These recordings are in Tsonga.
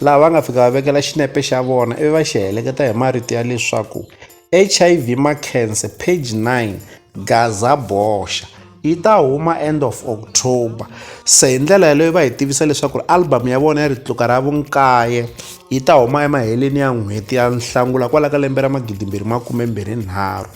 laha va nga fika va vekela xinepe xa vona ivi va xi heleketa hi marito ya leswaku hiv makhense page 9 gaza boxa yi ta huma end of october se hi ndlela yaleyo va hi tivisa leswaku album ya vona ya ritluka ra vunkaye yi ta huma emaheleni ya n'hweti ya nhlangula kwala ka lembe ra magidimbirhi makume mbirhi nharhu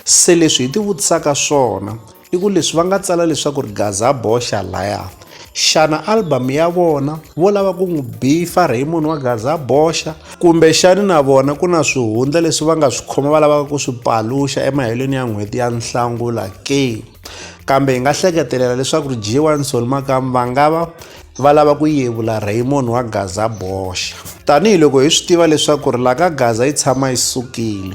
se leswi hi ti vutisaka swona i ku leswi va nga tsala leswaku ri gaza boxa laya xana album ya vona vo lava ku n'wi bifa raymond wa gaza boxa kumbe xani na vona ku na swihundla leswi va nga swi khoma va lavaka ku swi paluxa emahelweni ya n'hweti ya nhlangula ke kambe hi nga hleketelela leswaku ri g1 sol makam va nga va va lava ku yevula raymond wa gaza boxa tanihiloko hi swi tiva leswaku ri la ka gaza yi tshama yi sukile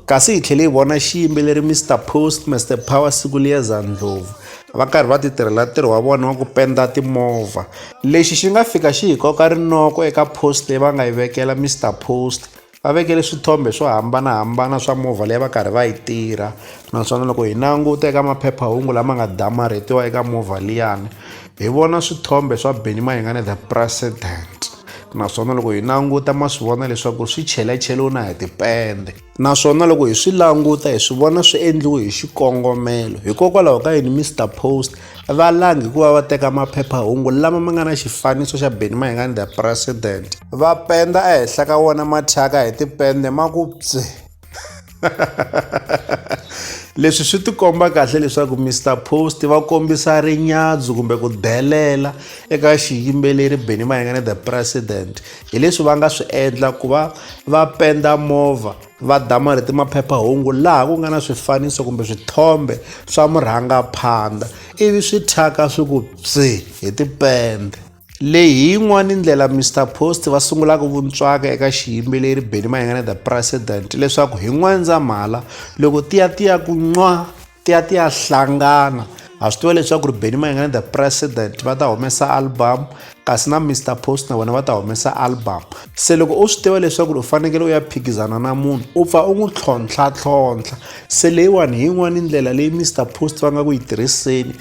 Kasi hi tlhele hi vona xiyimbeleri Mister Post, Mister Power Sikuliyeza Ndlovu va karhi va titirhela ntirho wa vona wa ku penda timovha. Lexi xi nga fika xi hi koka rinoko eka post leyi va nga yi vekela Mister Post, va vekele swithombe swo hambanahambana swa movha leyi va karhi va yi tirha naswona loko hi languta eka maphephahungu lama nga damarhetiwa eka movha liyani hi vona swithombe swa Benny Mayengani the president. naswona loko hi languta ma swi vona leswaku swi chelacheliwe na hi tipende naswona loko hi swi languta hi swi vona swi endliwe hi xikongomelo hikokwalaho ka yini mr post va langi hi ku va va teka maphephahungu lama ma nga na xifaniso xa beni mayingani the president va penda ehenhla ka wona mathyaka hi tipende ma ku pse leswi swi tikomba kahle leswaku mr post va kombisa rinyadzu kumbe ku delela eka xiyimbeleri benny mayengane the president hi leswi va nga swi endla ku va va penda movha va dama leti maphephahungu laha ku nga na swifaniso kumbe swithombe swa murhangaphandha ivi swi thyaka swi ku psi hi tipende Leyi hi yin'wana ndlela Mister Post va sungulaka vuntswaka eka xiyimbeleri Benny Mayengana the President leswaku hi N'wendzamhala loko tiya tiya ku nwa tiya tiya hlangana ha swi tiva leswaku ri Benny Mayengana the President va ta humesa album kasi na Mister Post na vona va ta humesa album se loko u swi tiva leswaku u fanekele u ya phikizana na munhu u pfa u n'wi tlhontlha tlhontlha se leyiwani hi yin'wana ndlela leyi Mister Post va nga ku yi tirhiseni